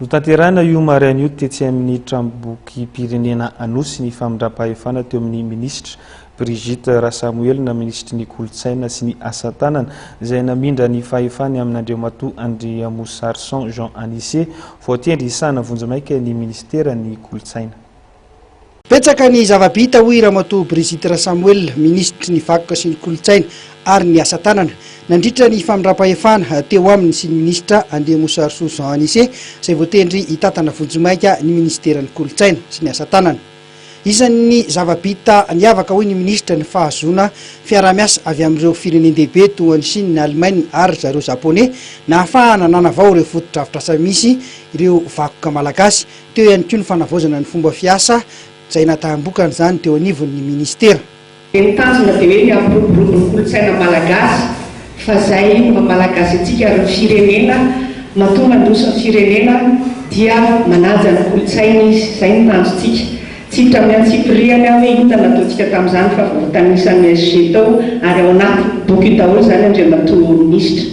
Notanterahina io maraina io tetsy amin'ny Tranombokim-pirenena Anosy ny famindram-pahefana teo amin'ny minisitra Brigitte Rasamoelina, minisitry ny Kolontsaina sy ny asa tanana, izay namindra ny fahefany amin'Andriamatoa Andriamosarison Jean Anise, voatendry hisahana vonjimaika ny minisiteran'ny Kolontsaina. Betsaka ny zava-bita hoy Ramatoa Brigitte Rasamoel, Minisitry ny Vakoka sy ny Kolontsaina ary ny Asa Tanana, nandritra ny famindram-pahefana teo aminy sy ny Minisitra Andriamosarisoa Jean Anise izay voatendry hitantana vonjimaika ny Minisiteran'ny Kolontsaina sy ny Asa Tanana. Isan'ny zava-bita niavaka hoy ny Minisitra ny fahazoana fiaraha-miasa avy amin'ireo firenen-dehibe toa an'i Chine, Allemagne ary ry zareo Japonais nahafahana nanavao ireo fotodrafitrasa misy ireo vakoka Malagasy. Teo ihany koa ny fanavaozana ny fomba fiasa izay nahataham-bokany izany teo anivon'ny minisitera. Dia ny tanjona dia hoe ny hampiroborobo ny kolontsaina malagasy fa izay maha malagasy antsika ary ny firenena matoa mandroso ny firenena dia manaja ny kolontsainy izy. Izay no tanjontsika. Tsy hiditra amin'ny antsipirihany aho hoe inona no nataontsika tamin'izany fa vao notanisan'ny SG tao ary ao anaty boky io daholo izany Andriamatoa Minisitra.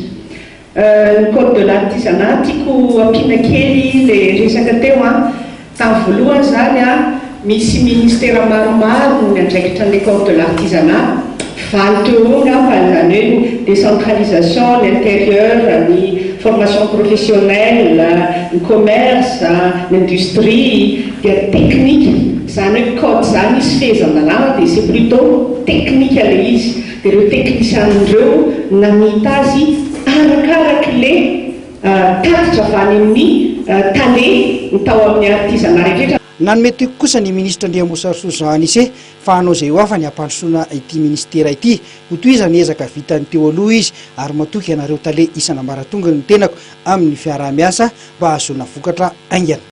Ny code de l'artisanat tiako ampiana kely le resaka teo an, tamin'ny voalohany izany an misy ministera maromaro no miandraikitra an'ilay code de l'artisanat, valo teo ho eo angamba, izany hoe ny décentralisation, ny intérieur, ny formation professionnelle, ny commerce, ny industrie, dia teknika, izany hoe code izany misy fehezan-dalàna dia c'est plutot teknika ilay izy. Dia ireo teknisianina ireo namita azy arakaraky le tatitra avy any amin'ny tale ny tao amin'ny artizana rehetra. Nanome toky kosa ny minisitra Andriambosarosoa Jean Anise fa hanao izay ho afany hampandrosoana ity minisitera ity. Hotohizany ny ezaka vitany teo aloha izy ary matoky anareo tale isan'ambaratonga ny tenako amin'ny fiaraha-miasa mba hahazoana vokatra haingana.